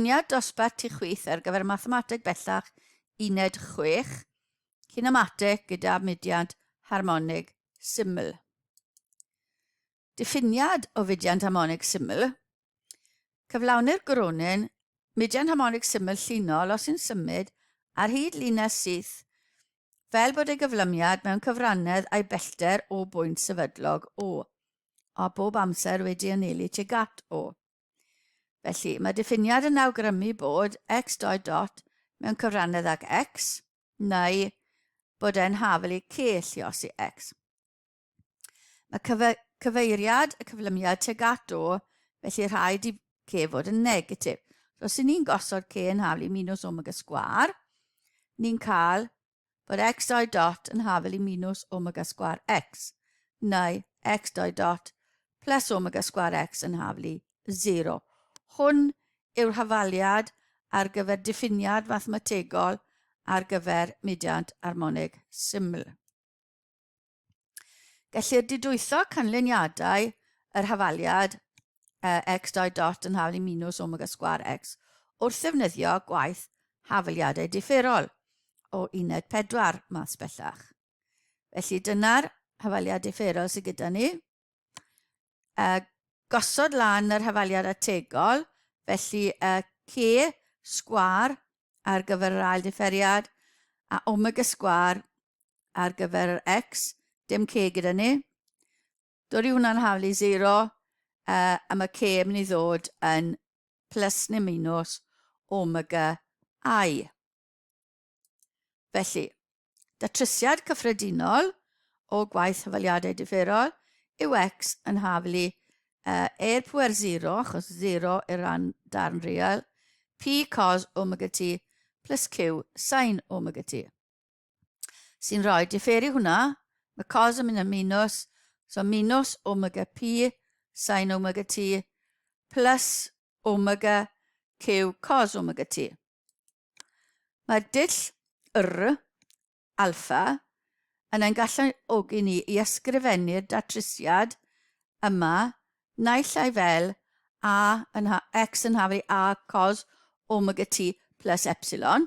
Cyfuniad dosbarth tu chwith ar gyfer Mathemateg Bellach Uned chwech, Cinemateg gyda mudiad harmonig syml. Diffiniad o fudiant harmonig syml. Cyflawnir gronyn mudiant harmonig syml llinol os yn symud ar hyd linell syth fel bod ei gyflymiad mewn cyfrannedd a'i bellter o bwynt sefydlog O, a bob amser wedi anelu tuag at O. Felly, mae diffiniad yn awgrymu bod x dot dot mewn cyfrannedd ag x, neu bod e'n hafel i c llios i x. Mae cyfe cyfeiriad y cyflymiad teg at o, felly rhaid i c fod yn negatif. So, os ni'n gosod c yn hafel i minus omega sgwar, ni'n cael bod x dau dot yn hafel i minus omega sgwar x, neu x dau dot plus omega sgwar x yn hafel i 0. Hwn yw'r hafaliad ar gyfer diffiniad mathemategol ar gyfer mudiant armonig syml. Gellir didwytho canlyniadau yr hafaliad uh, x dau dot yn hafalu minus omega sgwar x wrth ddefnyddio gwaith hafaliadau differol o uned 4 math bellach. Felly dyna'r hafaliad differol sydd gyda ni. Uh, gosod lan yr hafaliad ategol, felly uh, C sgwar ar gyfer yr ail differiad a omega sgwar ar gyfer yr X, dim K gyda ni. Dod i hwnna'n haflu 0, uh, a mae K yn mynd i ddod yn plus neu minus omega i. Felly, datrysiad cyffredinol o gwaith hyfaliadau differol yw X yn haflu uh, e'r pwer 0, achos 0 i'r rhan darn real, P cos omega t plus Q sin omega t. sy'n rhoi diferu hwnna, mae cos yn mynd yn minus, so minus omega P sin omega T plus omega Q cos omega T. Mae'r dull yr alfa yn ein galluogi ni i ysgrifennu'r datrysiad yma naill ai fel a yn x yn hafri a cos omega t plus epsilon,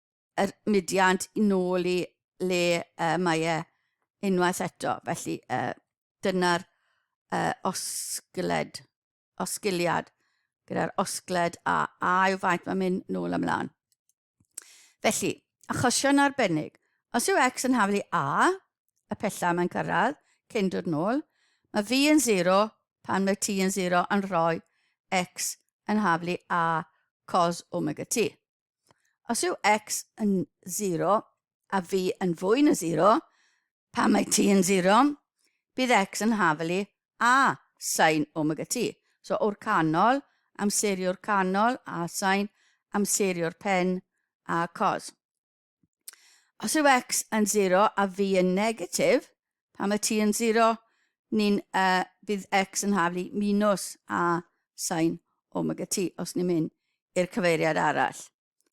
yr mudiad yn ôl i le uh, mae e unwaith eto. Felly uh, dyna'r uh, osgled, osgiliad gyda'r osgled a a yw faint mae'n mynd nôl ymlaen. Felly, achosion arbennig. Os yw x yn haflu a, y pella mae'n cyrraedd, cyn dod nôl, mae fi yn 0 pan mae t yn 0 yn rhoi x yn haflu a cos omega t. Os yw x yn 0 a fi yn fwy na 0, pa mae t yn 0, bydd x yn hafelu a sain omega t. So o'r canol, amserio'r canol a sain, amserio'r pen a cos. Os yw x yn 0 a fi yn negatif, Pan mae t yn 0, ni'n y bydd x yn haflu minus a sain omega t os ni'n mynd i'r cyfeiriad arall.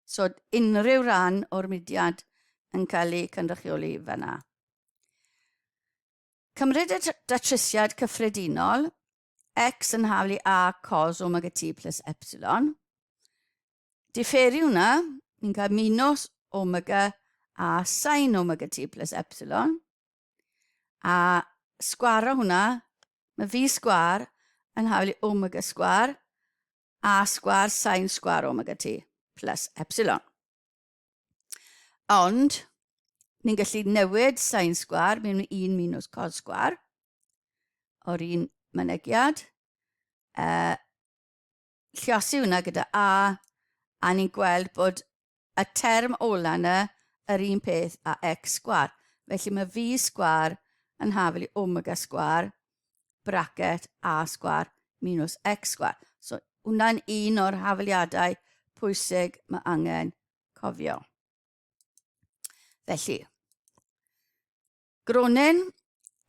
So unrhyw ran o'r mudiad yn cael ei cynrychioli fanna. Cymryd y datrysiad cyffredinol, x yn haflu a cos omega t plus epsilon, diferu hwnna, ni'n cael minus omega a sin omega t plus epsilon. A sgwaro hwnna, mae fi sgwar yn hafel i omega sgwar a sgwar sin sgwar omega t plus epsilon. Ond, ni'n gallu newid sin sgwar mewn 1 minus cos sgwar o'r un mynegiad. Uh, Lluosi hwnna gyda A, a ni'n gweld bod y term ola yna yr un peth a x sgwar. Felly mae V sgwar yn hafel i omega sgwar, bracket A sgwar minus x sgwar. So hwnna'n un o'r hafeliadau pwysig mae angen cofio. Felly, Groningen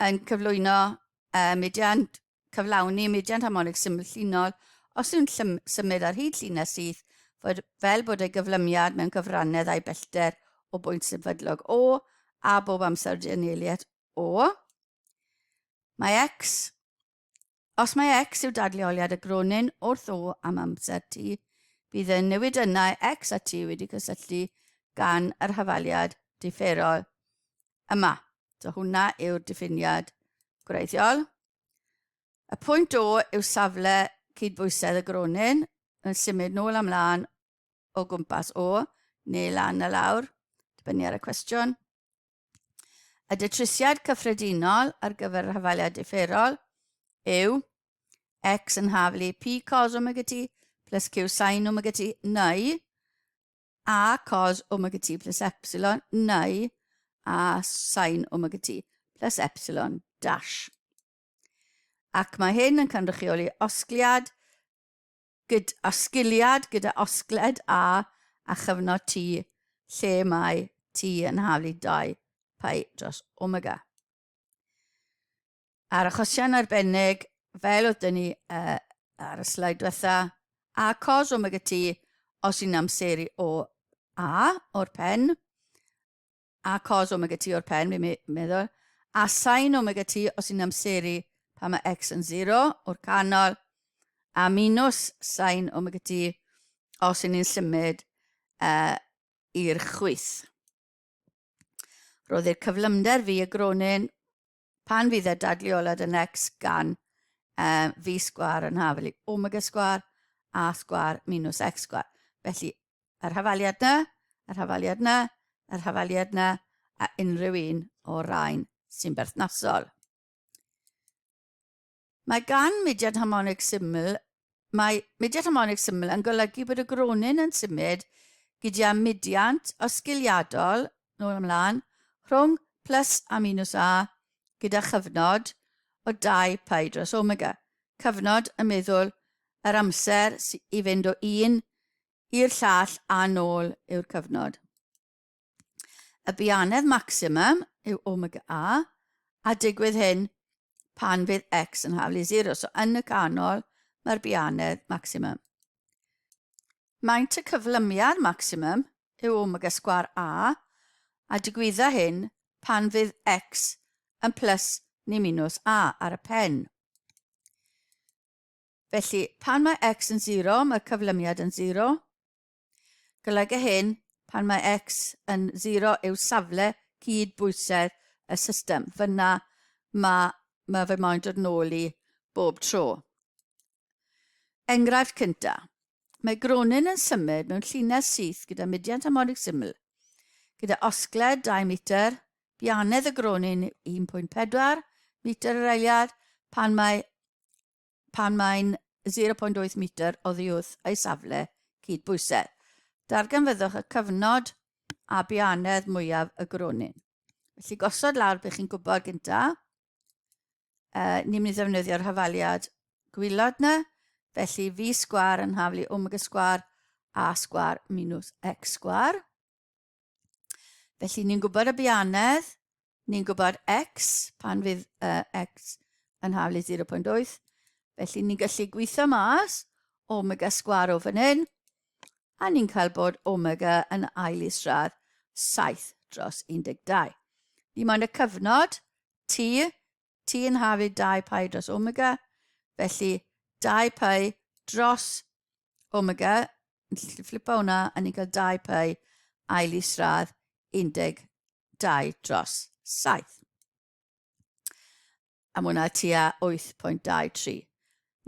yn cyflwyno uh, mudiant cyflawni mudiant harmonig syml llinol os yw'n symud ar hyd llinell syth fod, fel bod ei gyflymiad mewn cyfrannedd a'i bellter o bwynt sefydlog O a bob amser dianelu at O. Mae X Os mae X yw dadleoliad y gronyn wrth O am amser T, bydd y newidynnau X a T wedi cysylltu gan yr hafaliad differol yma. So hwnna yw'r diffiniad gwreiddiol. Y pwynt O yw safle cydbwysedd y gronyn yn symud nôl am lan o gwmpas O, neu lan a lawr, dibynnu ar y cwestiwn. Y datrysiad cyffredinol ar gyfer rhafaliad differol yw x yn haflu p cos omega t plus q sin omega t neu a cos omega t plus epsilon neu a sin omega t plus epsilon dash. Ac mae hyn yn cynrychioli osgliad gyd osgiliad gyda osgled A a chyfnod T lle mae T yn haflu i 2 pi dros omega. A'r achosion arbennig, fel oedd dyn ni uh, ar y slaid diwetha, a cos omega T os yn amseru o A o'r pen, a cos omega T o'r pen, fi'n meddwl, a sain omega T os i'n amseru pan mae X yn 0 o'r canol, a minus sain omega T os i'n ni'n symud uh, i'r chwyth. Roedd i'r cyflymder fi y gronyn Pan fydd y dadleoliad yn Necs gan uh, fi sgwar yn hafel i omega sgwar a sgwar minus x sgwar. Felly, yr hafaliad na, yr hafaliad na, yr hafaliad na, a unrhyw un o'r rhain sy'n berthnasol. Mae gan mudiad harmonig syml Mae mudiad harmonig syml yn golygu bod y gronyn yn symud gyda mudiant osgiliadol, nôl ymlaen, rhwng plus a minus A gyda chyfnod o 2 pi dros omega, cyfnod y meddwl yr amser i fynd o un i'r llall a nôl yw'r cyfnod. Y bianedd maximum yw omega a, a digwydd hyn pan fydd x yn haflu 0. So yn y canol mae'r bianedd maximum. Maent y cyflymiad maximum yw omega sgwar a, a digwydda hyn pan fydd x yn plus ni minus a ar y pen. Felly, pan mae x yn 0, mae'r cyflymiad yn 0, Golyga hyn pan mae x yn 0 yw safle cyd bwysedd y system. Fyna mae, mae fe moyn dod nôl i bob tro. Enghraifft cynta. Mae Gronin yn symud mewn llinell syth gyda mudiant harmonig syml. Gyda osgled 2 metr, bianedd y Gronin 1.4 metr yr eiliad pan mae pan mae'n 0.8 metr oddi wrth ei safle cyd-bwysedd. Darganfyddwch y cyfnod a bianedd mwyaf y gronyn. Felly gosod lawr beth chi'n gwybod gynta. E, ni'n mynd i ddefnyddio'r hafaliad gwylod na, felly fi sgwar yn haflu omega sgwar a sgwar minus x sgwar. Felly ni'n gwybod y bianedd, ni'n gwybod x, pan fydd uh, x yn hafl i 0.8. Felly ni'n gallu gweithio mas omega sgwar o fan hyn, a ni'n cael bod omega yn ail i stradd 7 dros 12. Dim ond y cyfnod t Ti yn hafu dau pau dros omega, felly dau pau dros omega, yn gallu flipa hwnna, a ni'n cael dau pau ail i sradd 12 dros 7. A mae hwnna tua 8.23.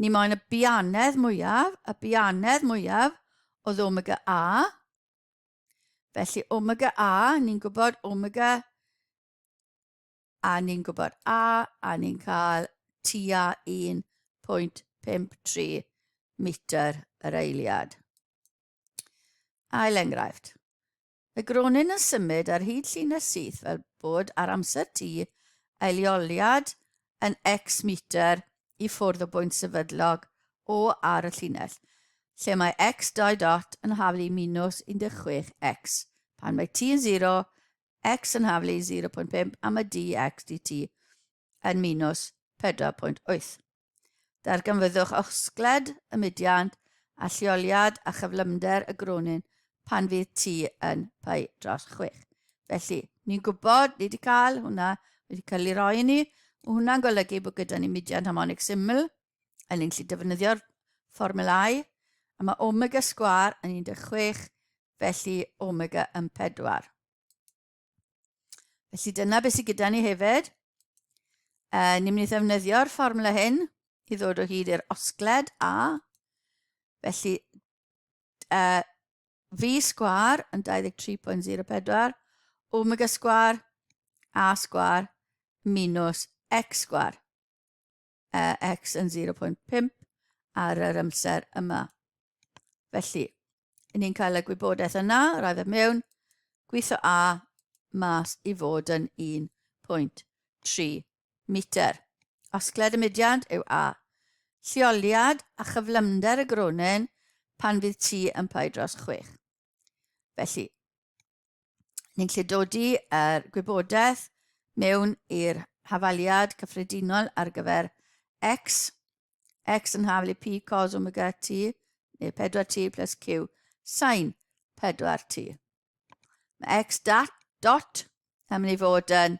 Ni moyn y bianedd mwyaf, y bianedd mwyaf oedd omega A. Felly omega A, ni'n gwybod omega a ni'n gwybod a, a ni'n cael tua 1.53 metr yr eiliad. Ail enghraifft. Y gronyn yn symud ar hyd llinell syth fel bod ar amser T eilioliad yn x metr i ffwrdd o bwynt sefydlog O ar y llinell, lle mae x dau dot yn haflu minus 16x pan mae t yn 0 x yn haflu 0.5 am y dx dt yn minus 4.8. Darganfyddwch osgled y mudiant a lleoliad a chyflymder y gronyn pan fydd t yn pai dros 6. Felly, ni'n gwybod, ni wedi cael hwnna, wedi cael ei roi i ni, mae hwnna'n golygu bod gyda ni mudiant harmonic syml, yn ni'n gallu defnyddio'r fformulau, a mae omega sgwar yn 16, felly omega yn 4. Felly dyna beth sydd gyda ni hefyd. E, ni'n mynd i ddefnyddio'r fformula hyn i ddod o hyd i'r osgled A. Felly e, V sgwar yn 23.04, omega sgwar, A sgwar, minus X sgwar. uh, x yn 0.5 ar yr amser yma. Felly, yn ni'n cael y gwybodaeth yna, rhaid fe mewn, gweithio A mas i fod yn 1.3 metr. Osgled y mudiad yw A. Lleoliad a chyflymder y gronyn pan fydd ti yn pai dros 6. Felly, ni'n lle dod i'r er, gwybodaeth mewn i'r hafaliad cyffredinol ar gyfer x, x yn haflu p cos omega t, neu 4t plus q sain 4t. Mae x dat, dot yn mynd i fod yn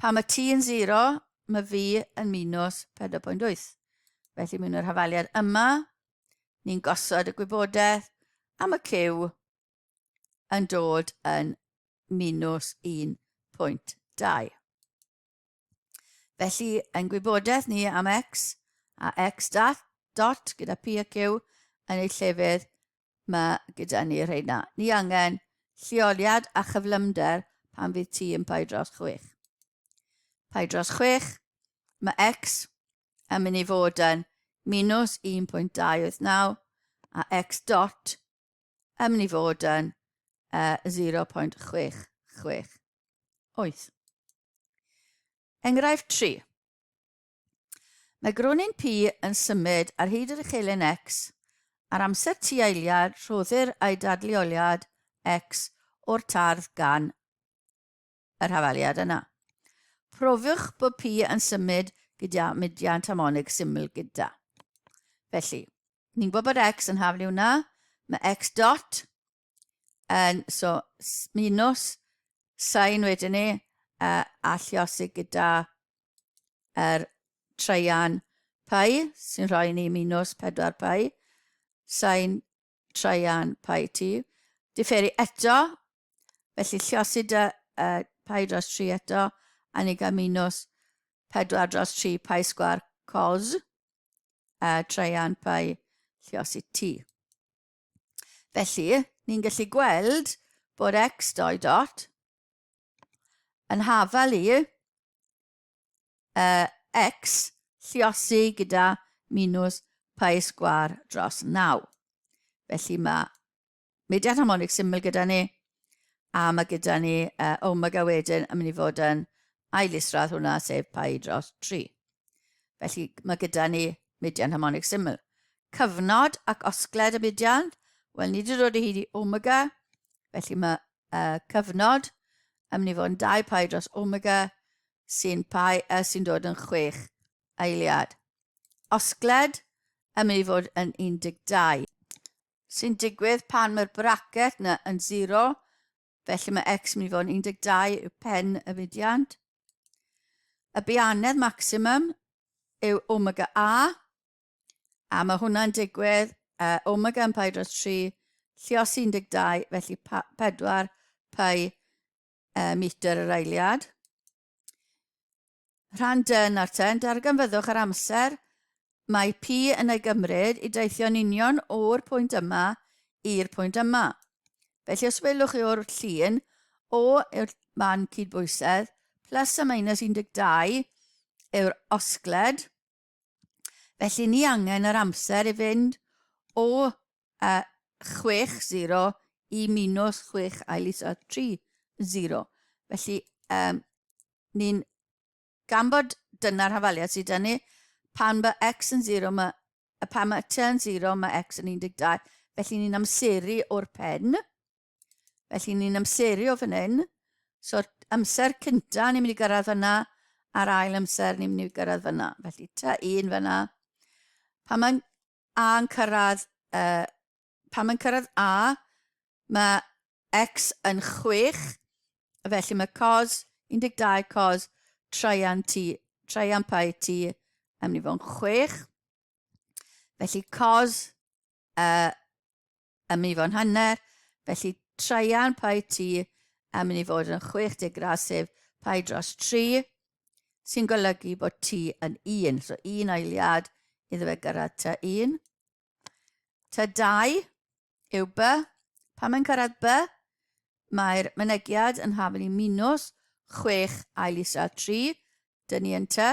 Pan mae t yn 0, mae fi yn minus 4.8. Felly mewn yr hafaliad yma, ni'n gosod y gwybodaeth a mae Q yn dod yn minus 1.2. Felly, yn gwybodaeth ni am X a X dot gyda P a Q yn eu llefydd ma gyda ni rheina. Ni angen lleoliad a chyflymder pan fydd ti yn pai dros chwech. Pai dros chwech, mae X yn mynd i fod yn minus 1.289 a X dot yn mynd i fod yn uh, 0.668. Enghraifft 3. Mae gronyn P yn symud ar hyd yr uchelyn X. Ar amser T eiliad, rhoddir ei dadleoliad X o'r tardd gan yr hafaliad yna. Profiwch bod P yn symud gyda mudiant harmonig syml gyda. Felly, ni'n gwybod bod X yn hafliw yna, mae X dot And so, minus sain wedyn ni, uh, alliosi gyda er treian pai, sy'n rhoi ni minus 4 pai, sain treian pai ti. Diferu eto, felly lliosi dy uh, pai dros 3 eto, a ni gael minus 4 dros 3 pai sgwar cos uh, treian pai lliosi ti. Felly, ni'n gallu gweld bod x dou dot yn hafal i uh, x lliosi gyda minus pi sgwar dros 9. Felly mae mediad harmonig syml gyda ni A mae gyda ni uh, Omega wedyn yn mynd i fod yn ail isradd hwnna, sef pai dros 3. Felly mae gyda ni median harmonic syml. Cyfnod ac osgled y median, wel ni wedi dod o hyd i omega, felly mae uh, cyfnod yn mynd i fod yn 2 pai dros omega sy'n pai uh, sy'n dod yn 6 eiliad. Osgled yn mynd i fod yn 12. sy'n digwydd pan mae'r bracket na yn 0, felly mae x yn mynd i fod yn 12 yw pen y fudiant. Y bianedd maximum yw omega a, a mae hwnna'n digwydd uh, omega yn pai dros 3, llios 12, felly 4 pai uh, metr yr eiliad. Rhan dy yn arten, darganfyddwch yr amser mae P yn ei gymryd i deithio'n union o'r pwynt yma i'r pwynt yma. Felly os welwch chi o'r llun, O yw'r man cydbwysedd, plus a minus 12 yw'r osgled, Felly ni angen yr amser i fynd o uh, 6-0 i minus 6 ail is 3-0. Felly um, ni'n gan bod dyna'r hafaliad sydd dynnu, pan mae x yn 0, mae, pan mae t yn 0, mae x yn 12. Felly ni'n amseru o'r pen. Felly ni'n amseru o fan hyn. So'r amser cynta ni'n mynd i gyrraedd fyna, a'r ail amser ni'n mynd i gyrraedd fyna. Felly ta un fyna. Pan mae'n A yn cyrraedd, uh, pan mae'n cyrraedd A, mae X yn 6, felly mae cos 12 cos traian T, traian pai T yn mynd i fod yn 6. Felly cos a ym mi fo'n hanner, felly traean paid ti a mynd i fod yn 60 grasif paid dros 3, sy'n golygu bod ti yn un, so un ailiad iddo fe gyrraedd ta un. Ta dau yw by, pan mae'n cyrraedd by, mae'r mynegiad yn haflu minws 6 ail isel 3, dyn ni yn ty.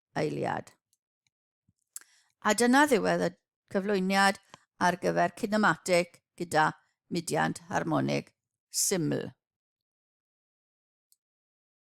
eiliad. A dyna ddiwedd y cyflwyniad ar gyfer cinematic gyda mudiant harmonig syml.